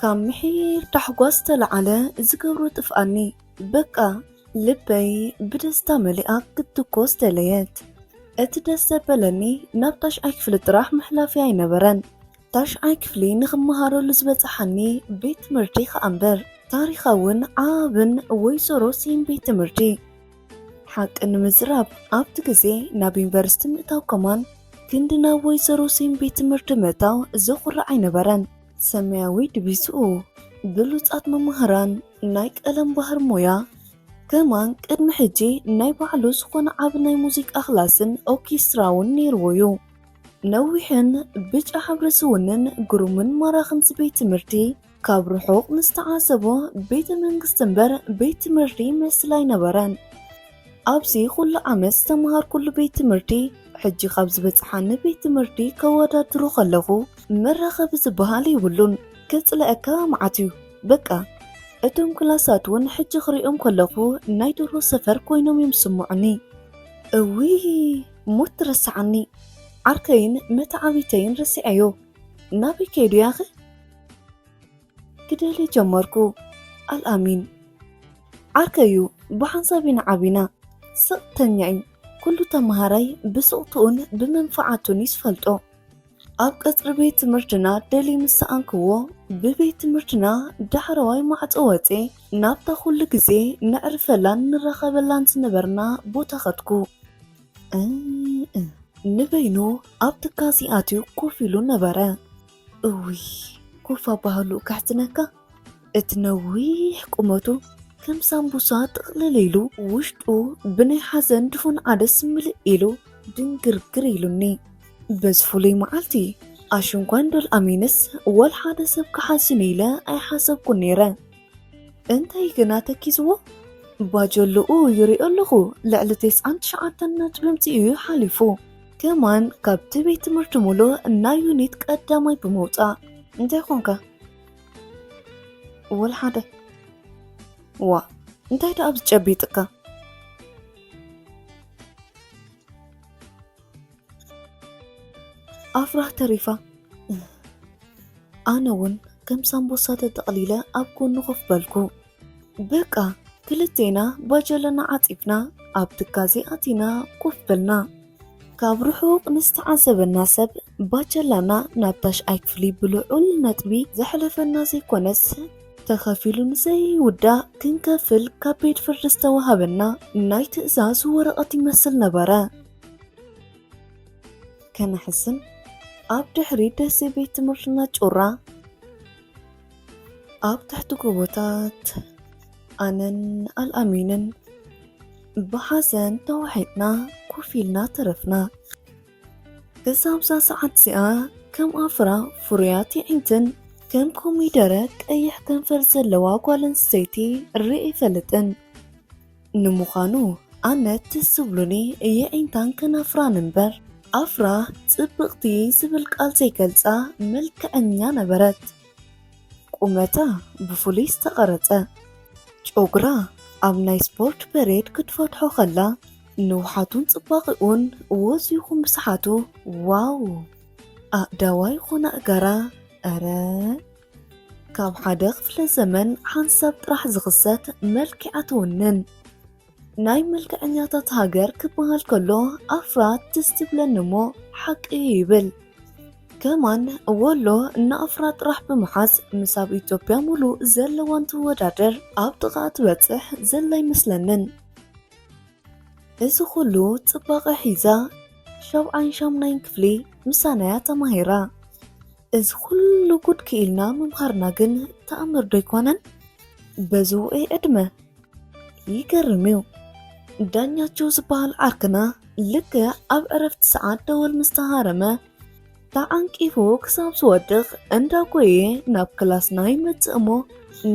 ካብ ምሒር ታሕጓስ ዝተላዓለ ዝገብሮ ጥፍኣኒ በቃ ልበይ ብደስታ መሊኣ ክትትኮስ ደለየት እቲ ደስ ዘበለኒ ናብ ታሽዓይ ክፍሊ ጥራሕ ምሕላፊ ኣይነበረን ታሽዓይ ክፍሊ ንክመሃረሉ ዝበፅሓኒ ቤት ትምህርቲ ከዓ እምበር ታሪኻውን ዓብን ወይዘሮ ሲም ቤት ትምህርቲ ሓቂ ንምዝራብ ኣብቲ ግዜ ናብ ዩኒቨርሲቲ ምእታው ከማን ክንዲ ናብ ወይዘሮ ሲም ቤት ትምህርቲ ምእታው ዘኹርዕ ኣይነበረን ሰማያዊ ድቢዝኡ ብሉጻት መማህራን ናይ ቀለም ባህር ሞያ ከማን ቅድሚ ሕጂ ናይ ባዕሉ ዝኾነ ዓቢ ናይ ሙዚቃ ክላስን ኦርኬስትራውን ነይርዎ እዩ። ነዊሕን ብጫ ሕብሪ ዝውንን ግሩምን ማራኽን እዚ ቤት ትምህርቲ ካብ ርሑቕ ምስ ተዓዘቦ ቤተ መንግስቲ እምበር ቤት ትምህርቲ ይመስል ኣይነበረን። ኣብዚ ኩሉ ዓመት ዝተምሃርኩሉ ቤት ትምህርቲ ሕጂ ካብ ዝበጽሓኒ ቤት ትምህርቲ ከወዳድሮ ከለኹ መራኸቢ ዝበሃል የብሉን። ከጽልኣካ መዓት እዩ በቃ እቶም ክላሳት እውን ሕጂ ክሪኦም ከለኹ ናይ ድሮ ሰፈር ኮይኖም እዮም ዝስምዑኒ። እውይ ሞት ትረስዓኒ ዓርከይን መተዓብይተይን ረሲዐዮ ናበይ ከይዱ ያኸ ክደሊ ጀመርኩ ኣልኣሚን ዓርከይ እዩ ብሓንሳብ ኢና ዓቢና ስቕተኛ እዩ ኩሉ ተምሃራይ ብስቕትኡን ብመንፈዓቱን እዩ ዝፈልጦ ኣብ ቀጽሪ ቤት ትምህርትና ደሊ ምስ ሰኣንክዎ ብቤት ትምህርትና ዳሕረዋይ ማዕጾ ወጼ ናብታ ኩሉ ግዜ ነዕርፈላን ንራኸበላን ዝነበርና ቦታ ኸድኩ እ እ ንበይኑ ኣብ ትካዚ ኣትዩ ኮፍ ኢሉ ነበረ እውይ ኮፍ ኣባህልኡ ከሕዝነካ እቲ ነዊሕ ቁመቱ ከም ሳምቡሳ ጥቕልል ኢሉ ውሽጡ ብናይ ሓዘን ድፉን ዓደስ ምልእ ኢሉ ድንግርግር ኢሉኒ በዚ ፍሉይ መዓልቲ ኣሽንኳይ ዶል ኣሚንስ ዋላ ሓደ ሰብ ክሓዝን ኢለ ኣይሓሰብኩን ነይረ። እንታይ ግን ኣተኪዝዎ ባጀልኡ ይሪኦ ኣለኹ ልዕሊ ቴስዓን ትሽዓተን ነጥቢ ምፅኡ እዩ ሓሊፉ ከማን ካብቲ ቤት ትምህርቲ ሙሉእ ናይ ዩኒት ቀዳማይ ብምውፃእ እንታይ ኮንካ ወል ሓደ ዋ እንታይ ደኣ ኣብዚ ጨቢጥካ ኣፍራህ ተሪፋ። ኣነ እውን ከም ሳምቡሳ ተጠቕሊለ ኣብ ጎኑ ኮፍ በልኩ። በቃ ክልቴና ባጀለና ዓፂፍና ኣብ ትካዜ ኣቲና ኮፍ በልና። ካብ ርሑቕ ንዝተዓዘበና ሰብ ባጀላና ናብ ታሽዓይ ክፍሊ ብልዑል ነጥቢ ዘሕለፈና ዘይኮነስ ተኸፊሉ ንዘይውዳእ ክንከፍል ካብ ቤት ፍርዲ ዝተዋሃበና ናይ ትእዛዝ ወረቐት ይመስል ነበረ። ከነሕስን ኣብ ድሕሪ ደሴ ቤት ትምህርትና ጩራ ኣብ ትሕቲ ጎቦታት ኣነን ኣልኣሚንን ብሓዘን ተዋሒጥና ኮፍ ኢልና ተረፍና ክሳብ እዛ ሰዓት እዚኣ ከም ኣፍራ ፍሩያት ይዒንትን ከም ኮሚደረ ቀይሕ ከንፈር ዘለዋ ጓል ኣንስተይቲ ርኢ ኣይፈልጥን ንምዃኑ ኣነ ትዝ ዝብሉኒ የዒንታን ከናፍራን እምበር ኣፍራ ጽብቕቲ ዝብል ቃል ዘይገልጻ መልክዐኛ ነበረት። ቁመታ ብፍሉይ ዝተቐረጸ፣ ጨጉራ ኣብ ናይ ስፖርት ፐሬድ ክትፈትሖ ከላ ንውሓቱን ጽባቒኡን ወዝዩኹም ብሰሓቱ ዋው! ኣእዳዋ ይኹን ኣእጋራ እረ! ካብ ሓደ ክፍለ ዘመን ሓንሳብ ጥራሕ ዝኽሰት መልኪዓ ትውንን ናይ መልክዐኛታት ሃገር ክበሃል ከሎ ኣፍራ ትስ ትብለኒ እሞ ሓቂ እዩ ይብል። ከማን ወሎ ንኣፍራ ጥራሕ ብምሓዝ ምስ ኣብ ኢትዮጵያ ሙሉእ ዘለዋ እንትወዳደር ኣብ ጥቓኣ ትበጽሕ ዘላ ኣይመስለንን። እዚ ኩሉ ጽባቐ ሒዛ ሻብዓይን ሻምናይን ክፍሊ ምሳናያ ተማሂራ። እዚ ኩሉ ጉድ ክኢልና ምምሃርና ግን ተኣምር ዶ ኣይኮነን? በዚ ውዑይ ዕድመ? ይገርም እዩ። ዳኛቸው ዝበሃል ዓርክና ልክዕ ኣብ ዕረፍቲ ሰዓት ደወል ምስ ተሃረመ ተዓንቂፉ ክሳብ ዝወድቕ እንዳጎየ ናብ ክላስና ይመጽእ እሞ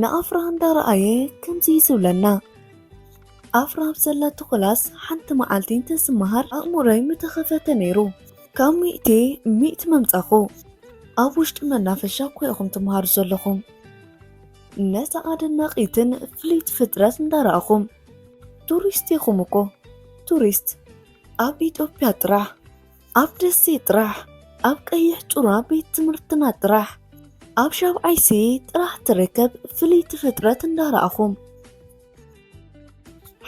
ንኣፍራ እንዳረኣየ ከምዚ ዝብለና ኣፍራ ኣብ ዘለቶ ክላስ ሓንቲ መዓልቲ እንተዝመሃር ኣእምሮይ ምተኸፈተ ነይሩ። ካብ ሚእቲ ሚእቲ መምጻኹ ኣብ ውሽጢ መናፈሻ እኮ ኢኹም ትመሃሩ ዘለኹም። ነታ ኣደናቂትን ፍልይቲ ፍጥረት እንዳረኣኹም ቱሪስት ኢኹም እኮ ቱሪስት ኣብ ኢትዮጵያ ጥራሕ ኣብ ደሴ ጥራሕ ኣብ ቀይሕ ጩራ ቤት ትምህርትና ጥራሕ ኣብ ሻብዓይ ሲ ጥራሕ ትርከብ ፍልይቲ ፍጥረት እንዳረኣኹም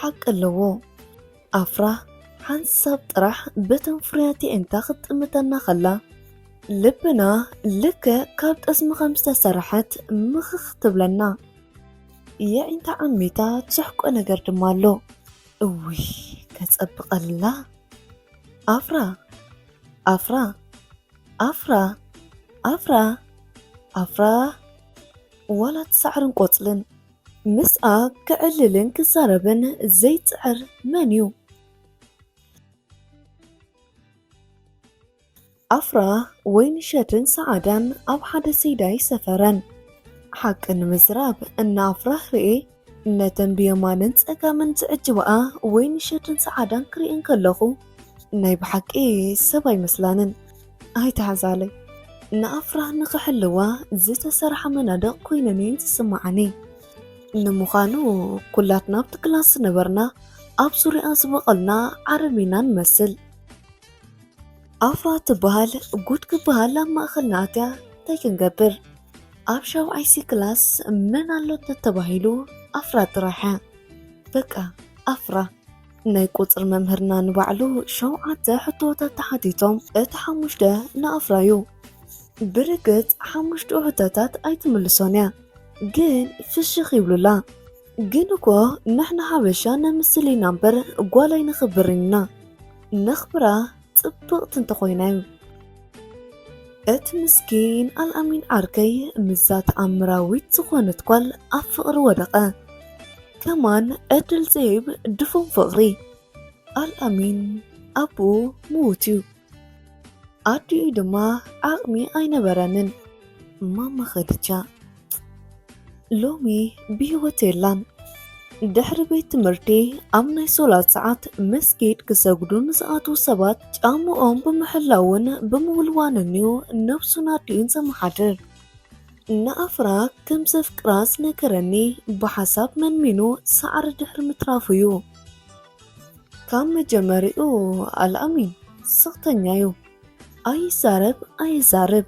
ሓቂ ኣለዎ ኣፍራ ሓንሳብ ጥራሕ በቶም ፍርያት የዒንታ ክትጥምተና ከላ ልብና ልክዕ ካብ ጠስሚ ከም ዝተሰርሐት ምኽኽ ትብለና። የዒንታ ዓሚታ ትስሕቆ ነገር ድማ ኣሎ። እውይ ከጸብቐላ ኣፍራ ኣፍራ ኣፍራ ኣፍራ ኣፍራ ዋላ እቲ ሳዕርን ቆጽልን ምስኣ ክዕልልን ክዛረብን ዘይጽዕር መን እዩ? ኣፍራህ፣ ወይንሸትን ሰዓዳን ኣብ ሓደ ሰይዳ ኣይሰፈረን። ሓቂ ንምዝራብ እነ ኣፍራህ ርእየ ነተን ብየማንን ጸጋምን ዝዕጅባኣ ወይንሸትን ሰዓዳን ክርእየን ከለኹ፣ ናይ ብሓቂ ሰብ ኣይመስላንን ኣይትሓዛለይ ንኣፍራ ንኽሕልዋ ዝተሰርሓ መናድቕ ኮይነን እየን ዝስምዓኒ ንምዃኑ ኩላትና ኣብቲ ክላስ ዝነበርና ኣብ ዙርያ ዝበቐልና ዓረብ ኢና ንመስል ኣፍራ ትበሃል ጉድ ክበሃል ኣብ ማእኸልና ኣትያ እንታይ ክንገብር ኣብ ሻብዓይ ሲ ክላስ መን ኣሎ ተተባሂሉ ኣፍራ ጥራሕ በቃ ኣፍራ ናይ ቁጽሪ መምህርና ንባዕሉ ሸውዓተ ሕቶታት ተሓቲቶም እቲ ሓሙሽተ ንኣፍራ እዩ። ብርግጽ ሓሙሽትኡ ሕቶታት ኣይትምልሶን እያ ግን ፍሽኽ ይብሉላ። ግን እኮ ንሕና ሓበሻ ነምስል ኢና እምበር ጓል ኣይነኽብርን ኢና። ነኽብራ ጽብቕቲ እንተኾይነ እቲ ምስኪን ኣልኣሚን ዓርከይ ምዛ ተኣምራዊት ዝኾነት ጓል ኣብ ፍቕሪ ወደቐ ከማን ዕድል ዘይብ ድፉን ፍቕሪ ኣልኣሚን ኣቦኡ ምዉት እዩ ኣዲኡ ድማ ዓቕሚ ኣይነበረንን ማማ ኸድቻ ሎሚ ብህይወት የላን። ድሕሪ ቤት ትምህርቲ ኣብ ናይ ሶላት ሰዓት መስጊድ ክሰግዱ ንዝኣትዉ ሰባት ጫምኦም ብምሕላውን ብምውልዋንን እዩ ነብሱን ኣዲኡን ዘመሓድር። ንኣፍራ ከም ዘፍቅራ ዝነገረኒ ብሓሳብ መንሚኑ ሳዕሪ ድሕሪ ምትራፉ እዩ። ካብ መጀመሪኡ ኣልኣሚ ስኽተኛ እዩ። ኣይዛረብ ኣየዛርብ።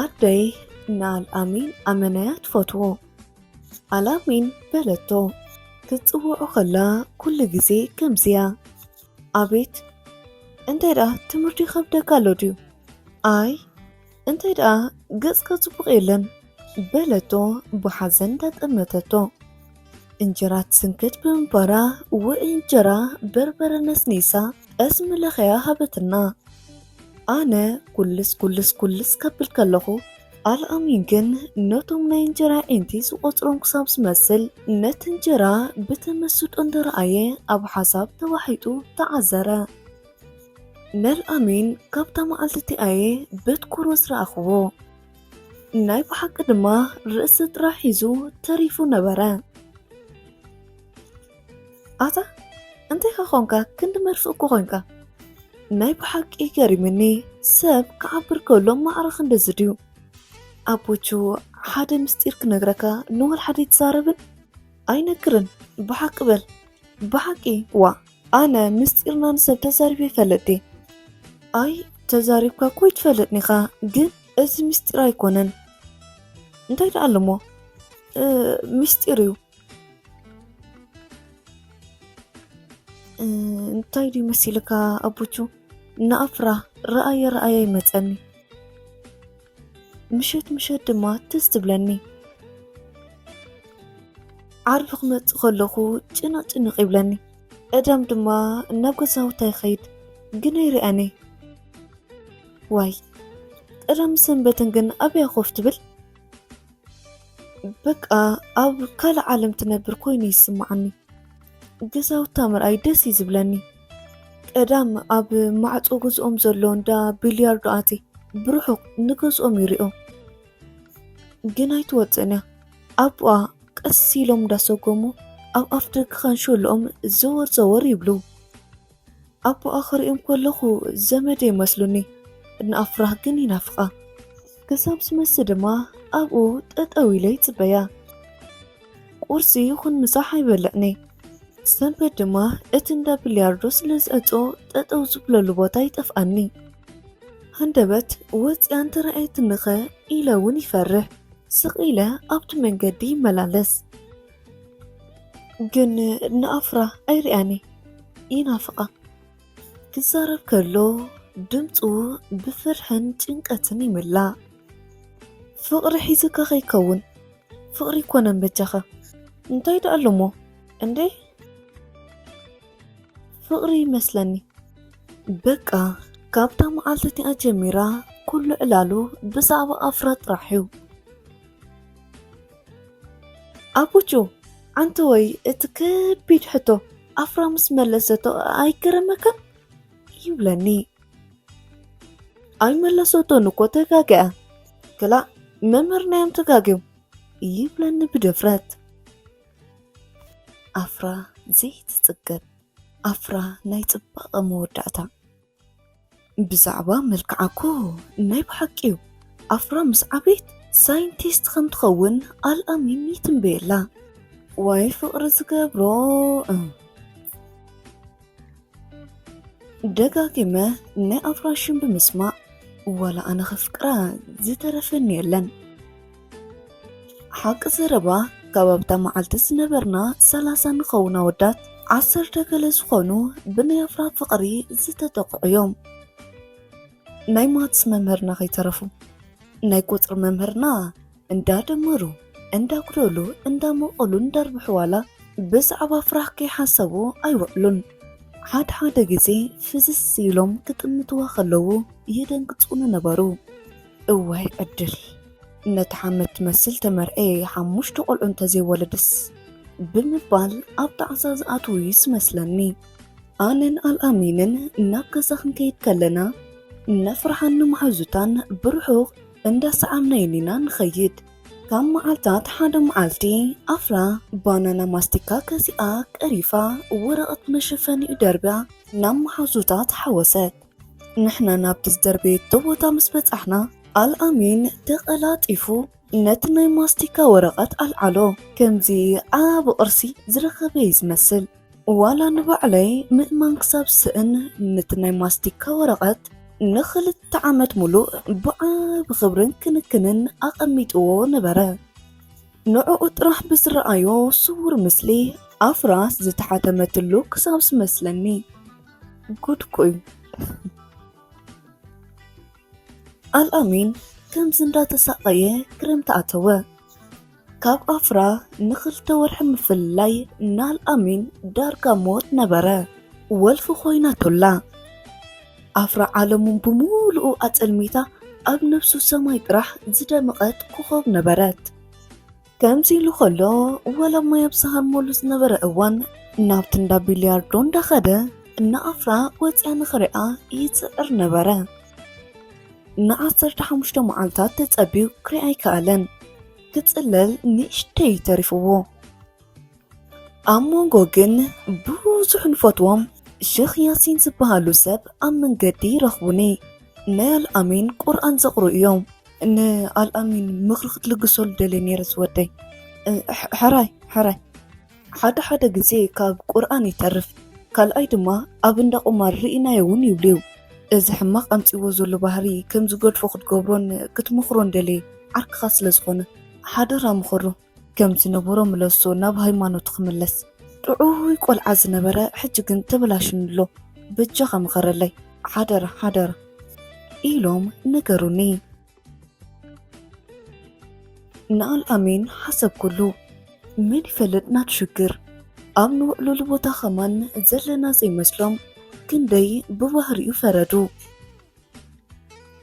ኣደይ ንኣልኣሚን ኣመናያ ትፈትዎ። ኣልኣሚን በለቶ ክትጽውዖ ከላ ኩሉ ግዜ ከምዚያ ኣቤት እንታይ ደኣ ትምህርቲ ይኸብደካ ኣሎ ድዩ ኣይ እንታይ ደኣ ገጽካ ጽቡቕ የለን በለቶ ብሓዘን ተጠመተቶ እንጀራ ትስንክት ብምባራ ወእንጀራ በርበረ ነስኒሳ ጠስሚ ለኸያ ሃበትና። ኣነ ጉልስ ጉልስ ጉልስ ከብል ከለኹ ኣልኣሚን ግን ነቶም ናይ እንጀራ ዒንቲ ዝቖጽሮም ክሳብ ዝመስል ነቲ እንጀራ ብተመስጦ እንደረኣየ ኣብ ሓሳብ ተዋሒጡ ተዓዘረ። ነልኣሚን ካብታ መዓልቲ እቲኣ እየ በትኩሮ ዝረኣኽዎ። ናይ ብሓቂ ድማ ርእሲ ጥራሕ ሒዙ ተሪፉ ነበረ ኣታ እንታይ ከኾንካ ክንዲ መርፍእ እኮ ኮንካ ናይ ብሓቂ ገሪምኒ ሰብ ክዓብር ከሎ ማዕረ ክንደዚ ድዩ ኣቦቹ ሓደ ምስጢር ክነግረካ ንወልሓደ ኣይትዛረብን ኣይነግርን ብሓቂ በል ብሓቂ ዋ ኣነ ምስጢርና ንሰብ ተዛሪበ ይፈልጥዲ ኣይ ተዛሪብካ እኮ ይትፈልጥኒኻ ግን እዚ ምስጢር ኣይኮነን እንታይ ደኣ ኣለሞ ምስጢር እዩ እንታይ ድዩ መሲልካ ኣቡቹ ንኣፍራ ረኣየ ረኣየ ይመፀኒ ምሸት ምሸት ድማ ትዝ ትብለኒ ዓርቢ ክመፅእ ከለኹ ጭንቕ ጭንቕ ይብለኒ ቀዳም ድማ ናብ ገዛውታ ይኸይድ ግን ኣይርኣኒ ዋይ ቀዳም ሰንበትን ግን ኣበያ ኮፍ ትብል በቃ ኣብ ካልእ ዓለም ትነብር ኮይኑ ይስምዓኒ ገዛውታ ምርኣይ ደስ እዩ ዝብለኒ ቀዳም ኣብ ማዕፆ ገዝኦም ዘሎ እንዳ ቢልያርዶ ኣቲ ብርሑቕ ንገዝኦም ይሪኦ ግን ኣይትወፅእን እያ ኣቦኣ ቀስ ኢሎም እንዳሰጎሙ ኣብ ኣፍ ደገ ካንሸሎኦም ዘወር ዘወር ይብሉ ኣቡኣ ክሪኦም ኮለኩ ዘመደይ መስሉኒ ን ኣፍራህ ግን ይናፍቃ ክሳብ ዝመጽ ድማ ኣብኡ ጠጠው ኢለ ይጽበያ ቁርሲ ይኩን ምጻሕ ኣይበልዕኒ ሰንበት ድማ እቲ እንዳ ብልያርዶ ስለ ዝእጾ ጠጠው ዝብለሉ ቦታ ይጠፍኣኒ ሃንደበት ወጽያ እንተረኣየትኒኸ ኢለ እውን ይፈርሕ ስቅ ኢለ ኣብቲ መንገዲ ይመላለስ። ግን ንኣፍራ ኣይርኣኒ ይናፍቓ ክዛረብ ከሎ ድምፁ ብፍርሕን ጭንቀትን ይምላእ ፍቕሪ ሒዝካ ከይከውን ፍቕሪ ኮነን በጃኻ እንታይ ደኣ ኣሎሞ እንዴ ፍቕሪ ይመስለኒ በቃ ካብታ መዓልቲ እቲኣ ጀሚራ ኩሉ ዕላሉ ብዛዕባ ኣፍራ ጥራሕ እዩ ኣቡቹ ኣንተወይ እቲ ከቢድ ሕቶ ኣፍራ ምስ መለሰቶ ኣይገረመካን ይብለኒ ኣይመለሰቶን እኮ ተጋግያ ክላእ መምህርናዮም ተጋግዮም ይብለኒ ብድፍረት ኣፍራ ዘይትፅገብ ኣፍራ ናይ ፅባቐ መወዳእታ ብዛዕባ መልክዓ'ኮ ናይ ብሓቂ'ዩ፣ ኣፍራ ምስ ዓበየት ሳይንቲስት ከም ትኸውን ኣልኣሚን ይትንበየላ። ዋይ ፍቅሪ ዝገብሮ እም። ደጋጊመ ናይ ኣፍራ ሽም ብምስማዕ ዋላ ኣነ ከፍቅራ ዝተረፈኒ የለን። ሓቂ ዘረባ ካብ ኣብታ መዓልቲ ዝነበርና ሰላሳ ንኸውን ኣወዳት ዓሰርተ ገለ ዝኾኑ ብናይ ኣፍራ ፍቕሪ ዝተጠቕዑ እዮም ናይ ማትስ መምህርና ከይተረፉ ናይ ቁፅሪ መምህርና እንዳደመሩ እንዳጉደሉ እንዳመቐሉ እንዳርብሑ ዋላ ብዛዕባ ፍራሕ ከይሓሰቡ ኣይውዕሉን ሓደ ሓደ ግዜ ፍዝስ ኢሎም ክጥምትዋ ከለዉ የደንግፁኒ ነበሩ እዋይ ዕድል ነቲ ሓመድ ትመስል ተመርዕየ ሓሙሽተ ቆልዑ እንተዘይወለደስ ብምባል ኣብ ጣዕሳ ዝኣትዉ እዩ ዝመስለኒ። ኣነን ኣልኣሚንን ናብ ገዛ ክንከይድ ከለና ነፍርሓን ንመሓዙታን ብርሑቕ እንዳሰዓብናየን ኢና ንኸይድ። ካብ መዓልታት ሓደ መዓልቲ ኣፍራ ባናና ማስቲካ ገዚኣ ቀሪፋ ወረቐት መሸፈኒኡ ደርብያ ናብ መሓዙታ ተሓወሰት። ንሕና ናብቲ ዝደርበየቶ ቦታ ምስ በጻሕና፣ ኣልኣሚን ተቐላጢፉ ነቲ ናይ ማስቲካ ወረቐት ኣልዓሎ። ከምዚ ዓቢ ቅርሲ ዝረኸበ እዩ ዝመስል። ዋላ ንባዕለይ ምእማን ክሳብ ዝስእን ነቲ ናይ ማስቲካ ወረቐት ንኽልተ ዓመት ምሉእ ብዓቢ ክብርን ክንክንን ኣቐሚጥዎ ነበረ። ንዕኡ ጥራሕ ብዝረኣዮ ስውር ምስሊ ኣፍራስ ዝተሓተመትሉ ክሳብ ዝመስለኒ ጉድ ኩዩ ኣልኣሚን ከምዚ እንዳተሳቐየ ክረምቲ ኣተወ ካብ ኣፍራ ንኽልተ ወርሒ ምፍልላይ ናልኣሚን ዳርጋ ሞት ነበረ ወልፊ ኮይናቶላ ኣፍራ ዓለሙ ብምሉኡ ኣጸልሚታ ኣብ ነፍሱ ሰማይ ጥራሕ ዝደመቐት ኮኸብ ነበረት። ከምዚ ኢሉ ከሎ ወላ ማይ ኣብ ዝሃርመሉ ዝነበረ እዋን ናብቲ እንዳ ቢልያርዶ እንዳኸደ ንኣፍራ ወፅያ ንኽሪኣ ይፅዕር ነበረ። ንዓሰርተ ሓሙሽተ መዓልታት ተጸብዩ ክሪኣ ኣይከኣለን። ክጽለል ንእሽተይ ተሪፍዎ። ኣብ መንጎ ግን ብዙሕ ንፈትዎም ሽኽ ያሲን ዝበሃሉ ሰብ ኣብ መንገዲ ይረኽቡኒ ናይ ኣልኣሚን ቁርኣን ዘቕሩ እዮም ንኣልኣሚን ምኽሪ ክትልግሰሉ ደልየ ነይረ ዝወደይ ሕራይ ሕራይ ሓደ ሓደ ግዜ ካብ ቁርኣን ይተርፍ ካልኣይ ድማ ኣብ እንዳ ቁማር ርኢናዮ እውን ይብሉ እዩ እዚ ሕማቕ ኣምፅዎ ዘሎ ባህሪ ከም ዝገድፎ ክትገብሮን ክትምኽሮን ደልየ ዓርክኻ ስለ ዝኾነ ሓደራ ምኽሩ ከም ዝነበሮ ምለሶ ናብ ሃይማኖቱ ክምለስ። ጥዑይ ቆልዓ ዝነበረ ሕጂ ግን ተበላሽኑ ኣሎ በጃኻ ምኸረለይ ሓደራ ሓደራ ኢሎም ነገሩኒ። ንኣልኣሚን ሓሰብኩሉ መን ይፈልጥ ናቱ ሽግር ኣብ ንውዕሉሉ ቦታ ከማን ዘለና ዘይመስሎም ክንደይ ብባህሪኡ ፈረዱ።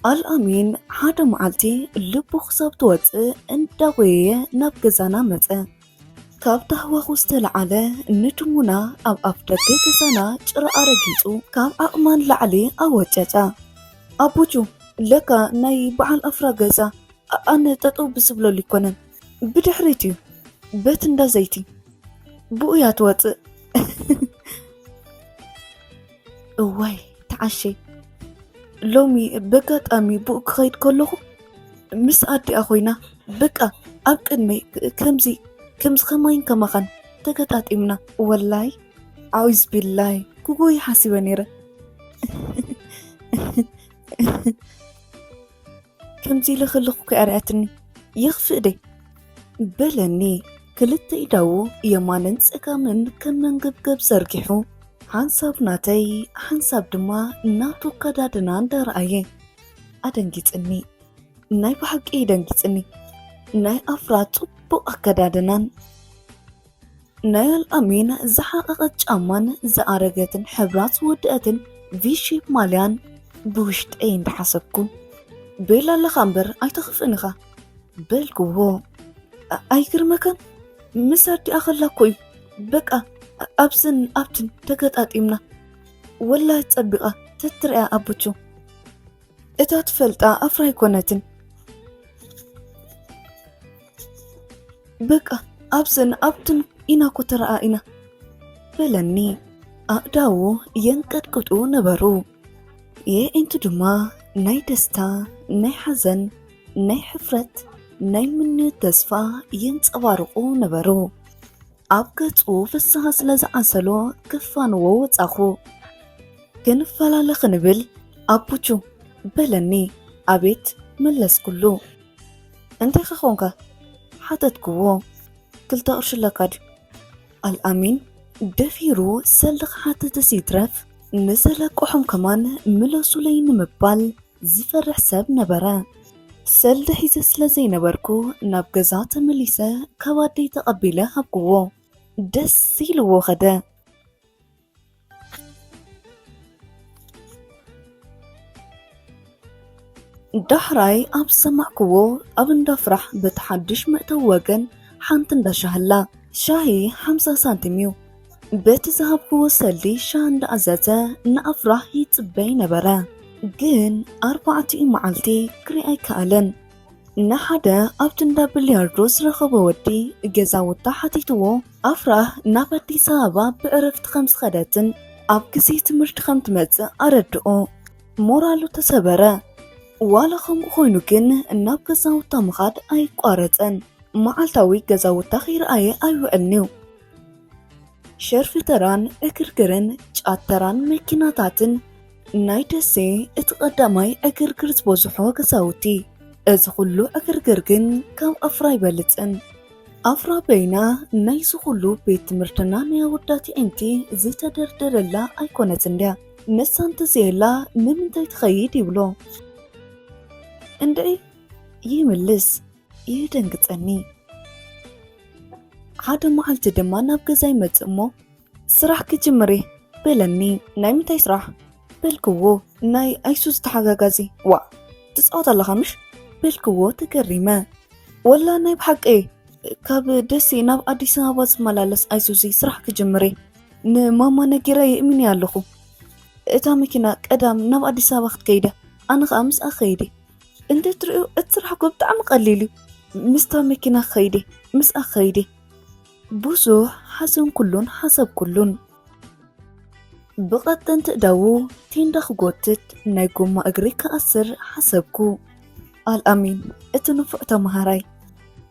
ኣልኣሚን ሓደ መዓልቲ ልቡ ክሳብ ትወፅእ እንዳጎየየ ናብ ገዛና መፀ። ካብ ታህዋኹ ዝተለዓለ ንድሙና ኣብ ኣፍ ደገ ገዛና ጭራ ኣረጊፁ ካብ ዓቕማ ንላዕሊ ኣወጨጫ። ኣቡጁ ለካ ናይ በዓል ኣፍራ ገዛ ኣ- ኣነ ጠጠው ብዝብለሉ ኣይኮነን ብድሕሪት እዩ በት እንዳ ዘይቲ ብኡ እያ ትወፅእ። እዋይ ተዓሸ ሎሚ በጋጣሚ ብኡ ክኸይድ ከለኹ ምስ ኣዲኣ ኮይና በቃ ኣብ ቅድመይ ከምዚ ከምዚ ከማይን ከማኻን ተገጣጢምና ወላይ ኣውዝ ቢላይ ክጎይ ሓሲበ ነይረ ከምዚ ኢለ ከለኹ ከኣርያትኒ ይኽፍእ ደይ በለኒ ክልተ ኢዳዉ የማንን ጸጋምን ከም መንገብገብ ዘርጊሑ ሓንሳብ ናተይ ሓንሳብ ድማ ናቱ ኣከዳድና እንዳረኣየ ኣደንጊጽኒ ናይ ብሓቂ ደንጊጽኒ ናይ ኣፍራ ጽቡቕ ኣከዳድናን ናይ ኣልኣሚን ዝሓቐቐት ጫማን ዝኣረገትን ሕብራ ዝወደአትን ቪሺ ማልያን ብውሽጠይ እንዳሓሰብኩ ቤላ ኣለኻ እምበር ኣይተኽፍእን ኢኻ በልክዎ። ኣ- ኣይግርመካን ምስ ኣዲኣ ከላ እኮ እዩ በቃ ኣ- ኣብዝን ኣብትን ተገጣጢምና ወላሂ ጸቢቓ ተትርያ ኣቡቹ እታ ትፈልጣ ኣፍራ ኣይኮነትን በቃ ኣብዘን ኣብትን ኢና እኮ ተረኣኢና በለኒ ኣእዳዉ የንቀጥቅጡ ነበሩ የዒንቱ ድማ ናይ ደስታ ናይ ሓዘን ናይ ሕፍረት ናይ ምንዮት ተስፋ የንፀባርቑ ነበሩ ኣብ ገጹ ፍስሃ ስለ ዝዓሰሎ ክፋንዎ ወጻኹ። ክንፈላለ ክንብል ኣቡቹ በለኒ። ኣቤት መለስኩሉ። እንታይከ ኾንካ ሓተትኩዎ። ክልተ ቅርሺ ኣለካ ድዩ? ኣልኣሚን ደፊሩ ሰልዲ ክሓትትስ ይትረፍ ንዘለቅሖም ከማን ምለሱለይ ንምባል ዝፈርሕ ሰብ ነበረ። ሰልዲ ሒዘ ስለ ዘይነበርኩ ናብ ገዛ ተመሊሰ ካብ ኣደይ ተቐቢለ ሃብክዎ። ደስ ኢልዎ ከደ። ዳሕራይ ኣብ ዝሰማዕክዎ ኣብ እንዳ ፍራሕ በቲ ሓድሽ መእተዊ ወገን ሓንቲ እንዳ ሻሂ ኣላ። ሻሂ ሓምሳ ሳንቲም እዩ። በቲ ዝሃብክዎ ሰልዲ ሻህ እንዳኣዘዘ ንኣፍራህ ይጽበይ ነበረ። ግን ኣርባዕቲኡ መዓልቲ ክሪኢ ኣይከኣለን። ንሓደ ኣብቲ እንዳ ብልያርዶ ዝረኸቦ ወዲ ገዛውታ ሓቲትዎ ኣፍራህ ናብ ኣዲስ ኣበባ ብዕረፍቲ ከም ዝኸደትን ኣብ ግዜ ትምህርቲ ከም ትመጽእ ኣረድኦ። ሞራሉ ተሰበረ። ዋላ ከምኡ ኮይኑ ግን ናብ ገዛውታ ምኻድ ኣይቋረጸን። መዓልታዊ ገዛውታ ከይረኣየ ኣይውዕልን'ዩ። ሸርፊ ተራን ዕግርግርን ጫት ተራን መኪናታትን ናይ ደሴ እቲ ቀዳማይ ዕግርግር ዝበዝሖ ገዛውቲ እዚ ኩሉ ዕግርግር ግን ካብ ኣፍራ ኣይበልፅን ኣፍራ በይና ናይዚ ኩሉ ቤት ትምህርትና ናይ ኣወዳት የዒንቲ ዝተደርደረላ ኣይኮነት እንድያ ንሳ እንተዘየላ ንምንታይ ትኸይድ ይብሎ እንድዒ ይምልስ የደንግጸኒ። ሓደ መዓልቲ ድማ ናብ ገዛ ይመጽእ እሞ ስራሕ ክጅምር እየ በለኒ። ናይ ምንታይ ስራሕ በልክዎ። ናይ ኣይሱዝ ተሓጋጋዚ። ዋ ትጻወት ኣለኻ ምሽ በልክዎ ተገሪመ። ወላ ናይ ብሓቂ ካብ ደሴ ናብ ኣዲስ ኣበባ ዝመላለስ ኣይሱዚ ስራሕ ክጅምር እየ ንማማ ነጊረ የእምን እየ ኣለኹ። እታ መኪና ቀዳም ናብ ኣዲስ ኣበባ ክትከይደ ኣነ ከዓ ምስኣ ከይደ እንተትርእዩ እቲ ስራሕኮ ብጣዕሚ ቀሊል እዩ ምስታ መኪና ክኸይድ እየ ምስኣ ክኸይድ እየ ብዙሕ ሓዘን ኩሉን ሓሳብ ኩሉን ብቐጠንቲ እዳዉ ቴንዳ ክጎትት ናይ ጎማ እግሪ ክኣስር ሓሰብኩ ኣልኣሚን እቲ ንፉዕ ተምሃራይ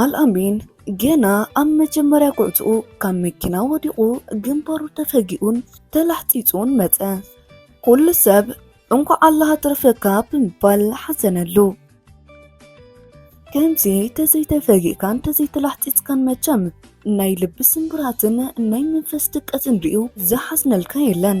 ኣልኣሚን ገና ኣብ መጀመርያ ጉዕዝኡ ካብ መኪና ወዲቑ ግንባሩ ተፈጊኡን ተላሕፂፁን መፀ። ኩሉ ሰብ እንኳዕ ኣላህ ኣትረፈካ ብምባል ሓዘነሉ። ከምዚ ተዘይተፈጊእካ እንተዘይተላሕፂፅካን መቸም ናይ ልቢ ስምብራትን ናይ መንፈስ ድቀትን ድዩ ዝሓዝነልካ የለን።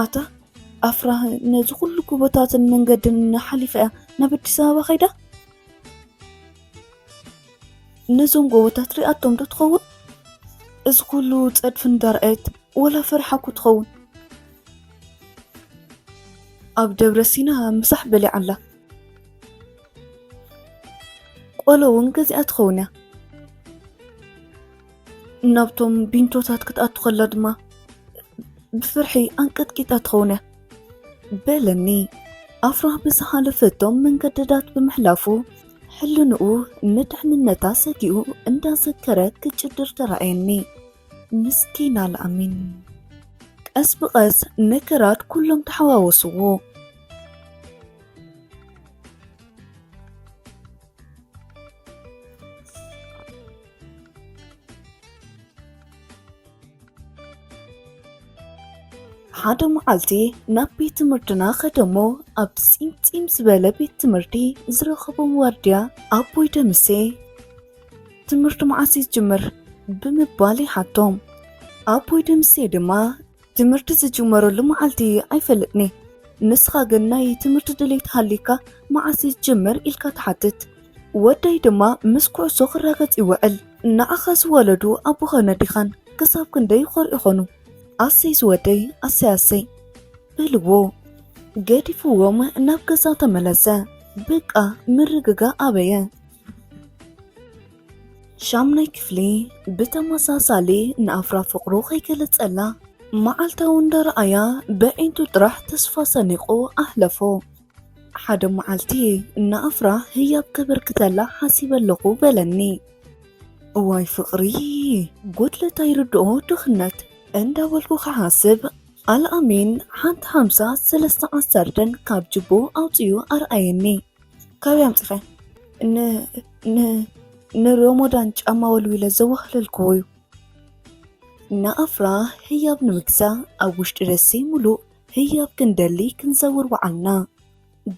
ኣታ ኣፍራህ ነዚ ኩሉ ጎቦታትን መንገድን ሓሊፋ እያ ናብ ኣዲስ ኣበባ ከይዳ ነዞም ጎቦታት ሪኣቶም ዶ ትኸውን እዚ ኩሉ ፀድፍን ዳርኣየት ወላ ፈርሓኩ ትኸውን ኣብ ደብረ ሲና ምሳሕ በሊዓ ኣላ ቆሎ እውን ገዚኣ ትኸውን እያ ናብቶም ቢንቶታት ክትኣቱ ከላ ድማ ብፍርሒ ኣንቀጥቂጣ ትኸውን እያ በለኒ ኣፍራህ ብዝሓለፈቶም መንገድታት ብምሕላፉ ሕልንኡ ንድሕንነታ ሰጊኡ እንዳዘከረ ክጭድር ተራእየኒ ምስኪና ልኣሚን ቀስ ብቐስ ነገራት ኩሎም ተሓዋወስዎ ሓደ መዓልቲ ናብ ቤት ትምህርትና ከደሞ ኣብ ፂምፂም ዝበለ ቤት ትምህርቲ ዝረኸቦም ዋርድያ ኣቦይ ደምሴ ትምህርቲ መዓስ ይጅምር ብምባል ይሓቶም። ኣቦይ ደምሴ ድማ ትምህርቲ ዝጅመረሉ መዓልቲ ኣይፈልጥን'የ። ንስኻ ግን ናይ ትምህርቲ ድሌት ሃልዩካ መዓስ ይጅምር ኢልካ ትሓትት። ወደይ ድማ ምስ ኩዕሶ ክራገጽ ይውዕል። ንዓኻ ዝወለዱ ኣቦኻን ኣዴኻን ክሳብ ክንደይ ይኾርዑ ይኾኑ? ኣሰይ ዝወደይ ኣሰይ ኣሰይ! በልዎ። ገዲፍዎም ናብ ገዛ ተመለሰ። በቃ ምርግጋእ ኣበየ። ሻምናይ ክፍሊ ብተመሳሳሊ ንኣፍራ ፍቕሩ ከይገለጸላ መዓልታዊ እንዳረኣያ በዒንቱ ጥራሕ ተስፋ ሰኒቑ ኣሕለፎ። ሓደ መዓልቲ ንኣፍራ ህያብ ከበርክተላ ሓሲበ ኣለኹ በለኒ። እዋይ ፍቕሪ ጉድለት ኣይርድኦ ድኽነት እንዳበልኩ ክሓስብ ኣልኣሚን ሓንቲ ሓምሳ ሰለስተ ዓሰርተን ካብ ጅቦ ኣውጺኡ ኣርኣየኒ። ካበይ ኣምፅኻዮ ንሮሞዳን ጫማ ወልዊለ ዘዋህለልክዎ እዩ ንኣፍራ ህያብ ንምግዛእ ኣብ ውሽጢ ደሴ ሙሉእ ህያብ ክንደሊ ክንዘውር ወዓልና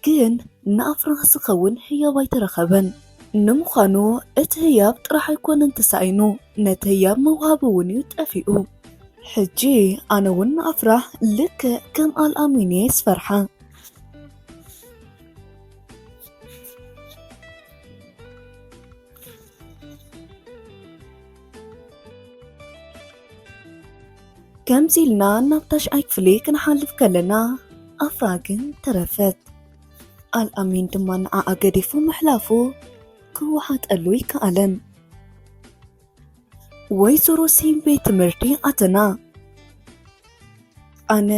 ግን ንኣፍራ ዝኸውን ህያብ ኣይተረኸበን ንምዃኑ እቲ ህያብ ጥራሕ ኣይኮነን ተሳኢኑ ነቲ ህያብ መውሃቢ እውን እዩ ጠፊኡ ሕጂ ኣነ እውን ንኣፍራ ልክዕ ከም ኣልኣሚን እየ ዝፈርሓ ከምዚ ኢልና ናብ ታሽዓይ ክፍሊ ክንሓልፍ ከለና ኣፍራ ግን ተረፈት ኣልኣሚን ድማ ንዓኣ ገዲፉ ምሕላፉ ክወሓጠሉ ይከኣለን ወይዘሮ ሲም ቤት ትምህርቲ ኣተና ኣነ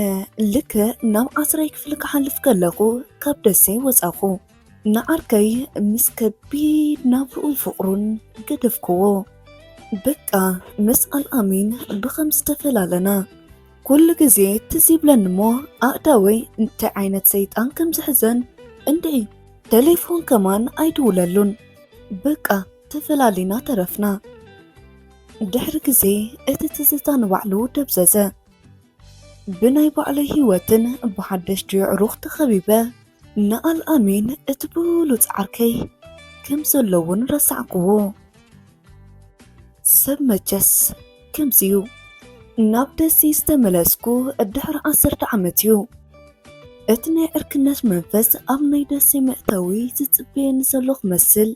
ልክ ናብ ዓስራይ ክፍሊ ክሓልፍ ከለኹ ካብ ደሴ ወፃኹ ንዓርከይ ምስ ከቢድ ናብርኡን ፍቕሩን ገደፍክዎ በቃ ምስ ኣልኣሚን ብኸም ዝተፈላለና ኩሉ ግዜ ትዝ ይብለኒ እሞ ኣእዳወይ እንታይ ዓይነት ሰይጣን ከም ዝሕዘን እንድዒ ቴሌፎን ከማን ኣይድውለሉን በቃ ተፈላሊና ተረፍና። ድሕሪ ግዜ እቲ ትዝታ ንባዕሉ ደብዘዘ። ብናይ ባዕለይ ህይወትን ብሓደሽቲ የዕሩኽ ተኸቢበ ንኣልኣሚን እቲ ብሉጽ ዓርከይ ከም ዘሎ እውን ረሳዕክዎ። ሰብ መቸስ ከምዚዩ ናብ ደሴ ዝተመለስኩ ድሕሪ ዓሰርተ ዓመት እዩ። እቲ ናይ ዕርክነት መንፈስ ኣብ ናይ ደሴ መእተዊ ዝጽበየኒ ዘሎ ክመስል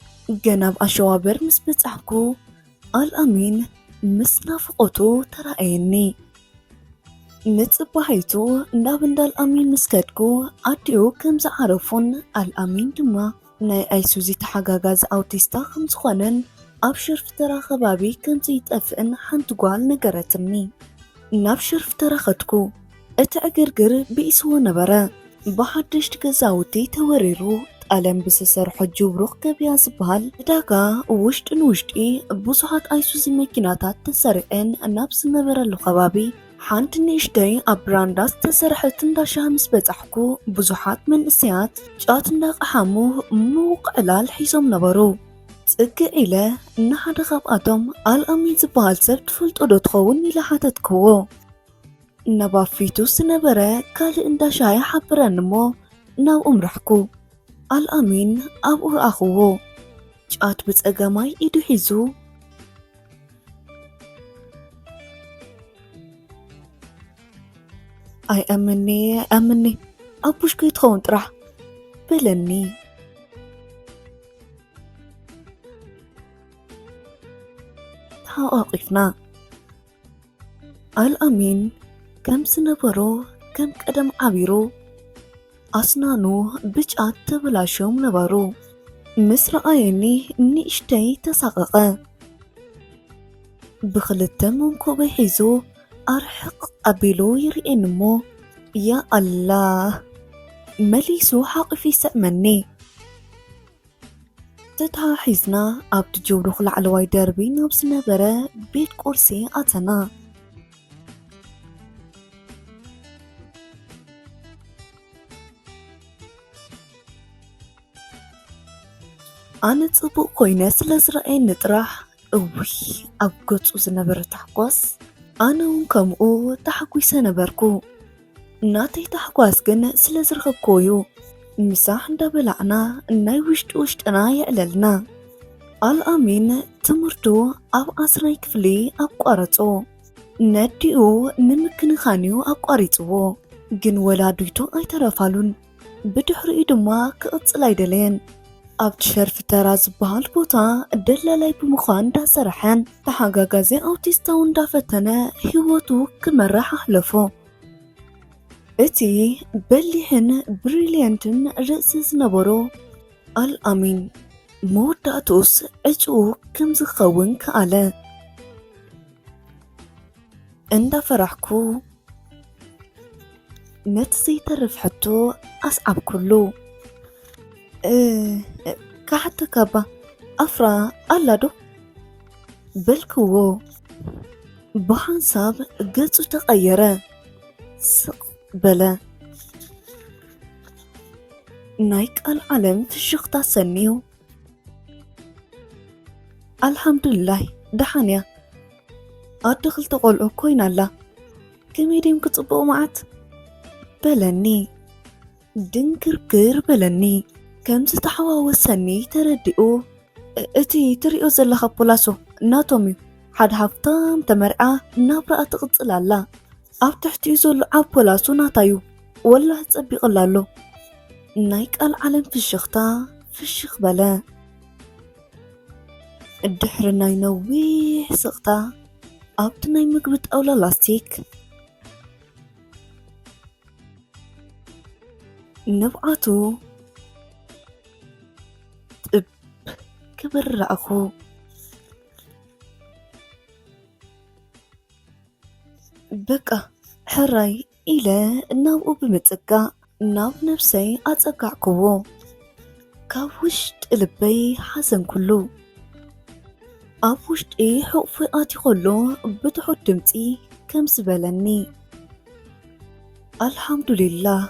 ገና ኣብ ኣሸዋበር ምስ በጻሕኩ ኣልኣሚን ምስ ናፍቖቱ ተራእየኒ። ንጽባሒቱ ናብ እንዳልኣሚን ምስ ከድኩ ኣዲኡ ከም ዝዓረፉን ኣልኣሚን ድማ ናይ ኣይሱዚ ተሓጋጋዚ ኣውቲስታ ከም ዝኾነን ኣብ ሸርፍተራ ከባቢ ከም ዘይጠፍእን ሓንቲ ጓል ነገረትኒ። ናብ ሸርፍተራ ከድኩ። እቲ ዕግርግር ብኢስዎ ነበረ። ብሓደሽቲ ገዛውቲ ተወሪሩ። ጣልያን ብዝሰርሖ ጅብሩኽ ገበያ ዝበሃል ዕዳጋ ውሽጢ ንውሽጢ ብዙሓት ኣይሱዚ መኪናታት ተሰሪዐን ናብ ዝነበረሉ ከባቢ ሓንቲ ንእሽተይ ኣብ ብራንዳ ዝተሰርሐት እንዳ ሻሂ ምስ በጻሕኩ ብዙሓት መንእሰያት ጫት እንዳቐሓሙ ምዉቕ ዕላል ሒዞም ነበሩ ጽግዕ ኢለ ንሓደ ካብኣቶም ኣልኣሚ ዝበሃል ሰብ ትፈልጦ ዶ ትኸውን ኢለ ሓተትክዎ ናብ ኣብ ፊቱ ዝነበረ ካልእ እንዳ ሻሂ ሓበረኒ እሞ ናብኡ ምራሕኩ ኣልኣሚን ኣብኡ ረኣኽዎ ጫት ብጸገማይ ኢዱ ሒዙ ኣይኣምኒ ኣይኣምኒ ኣቡሽ ከይትኸውን ጥራሕ በለኒ ተሓቋቒፍና ኣልኣሚን ከም ዝነበሮ ከም ቀደም ዓቢሩ ኣስናኑ ብጫት ተበላሽዮም ነበሩ። ምስ ረኣየኒ ንእሽተይ ተሳቐቐ። ብኽልተ መንኮበ ሒዙ ኣርሕቕ ኣቢሉ ይርእየኒ እሞ ያ ኣላህ መሊሱ ሓቒፉ ይስዕመኒ። ተተሓሒዝና ኣብቲ ጅብሩኽ ላዕለዋይ ደርቢ ናብ ዝነበረ ቤት ቁርሲ ኣተና። ኣነ ጽቡቕ ኮይነ ስለ ዝረኣየኒ ጥራሕ እውይ ኣብ ገጹ ዝነበረ ታሕጓስ ኣነ እውን ከምኡ ተሓጒሰ ነበርኩ። ናተይ ታሕጓስ ግን ስለ ዝረኸብክዎ እዩ ምሳሕ እንዳበላዕና ናይ ውሽጢ ውሽጥና የዕለልና ኣልኣሚን ትምህርቱ ኣብ ኣስራይ ክፍሊ ኣቋረጾ ነዲኡ ንምክንኻን እዩ ኣቋሪጽዎ ግን ወላዲቱ ኣይተረፋሉን ብድሕሪኡ ድማ ክቕጽል ኣይደለየን። ኣብቲ ሸርፊ ተራ ዝበሃል ቦታ ደላላይ ብምዃን እንዳሰርሐን ተሓጋጋዚ ኣውቲስታውን እንዳፈተነ ህይወቱ ክመርሕ ኣሕለፎ። እቲ በሊሕን ብሪልየንትን ርእሲ ዝነበሮ ኣልኣሚን መወዳእትኡስ ዕጭኡ ከምዚ ክኸውን ከኣለ። እንዳፈራሕኩ ነቲ ዘይተርፍ ሕቶ ኣስዓብኩሉ ክሓተካ እባ ኣፍራ ኣላ ዶ በልክዎ ብሓንሳብ ገጹ ተቐየረ ስቕ በለ ናይ ቃል ዓለም ፍሽኽታ ሰንዩ ኣልሓምዱላይ ደሓን እያ ኣደ ክልተ ቆልዑ ኮይና ኣላ ከመይ ድም ክፅቡቑ መዓት በለኒ ድንግርግር በለኒ ከም ዝተሓዋወሰኒ ተረዲኡ እቲ ትሪኦ ዘለኻ ፖላሶ ናቶም እዩ ሓደ ሃብታም ተመርዓ ናብራኣ ትቕፅል ኣላ ኣብ ትሕቲኡ ዘሎ ዓብ ፖላሶ ናታ እዩ ወላሂ ፀቢቕላ ኣሎ ናይ ቃል ዓለም ፍሽኽታ ፍሽኽ በለ ድሕሪ ናይ ነዊሕ ስቕታ ኣብቲ ናይ ምግቢ ጣውላ ላስቲክ ንብዓቱ ጥብ ክብል ረኣኹ። በቃ ሕራይ ኢለ ናብኡ ብምጽጋእ ናብ ነብሰይ ኣጸጋዕክዎ። ካብ ውሽጢ ልበይ ሓዘንኩሉ። ኣብ ውሽጢ ሕቑፉ ኣትዩ ከሎ ብትሑት ድምፂ ከምዚ በለኒ ኣልሓምዱሊላህ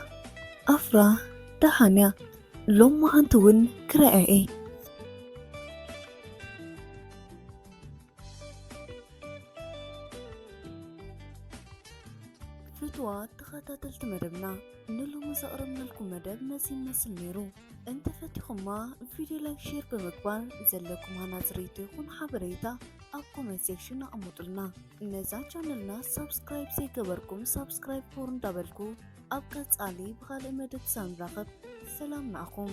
ኣፍራ ደሓን እያ ሎማዓንቲ እውን ክርኣ እየ ፍትዋት ተኸታተልቲ መደብና ንሎሚ ዘቕረብናልኩም መደብ ነዚ ይመስል ነይሩ እንተፈቲኹማ ቪድዮ ላይክ ሼር ብምግባር ዘለኩም ሃናፂ ርእይቶ ይኹን ሓበሬታ ኣብ ኮመንት ሴክሽን ኣቐምጡልና ነዛ ቻነልና ሳብስክራይብ ዘይገበርኩም ሳብስክራይብ ፎር እንዳበልኩ ኣብ ቀፃሊ ብኻልእ መደብ ሳንራኸብ ሰላም ንዓኹም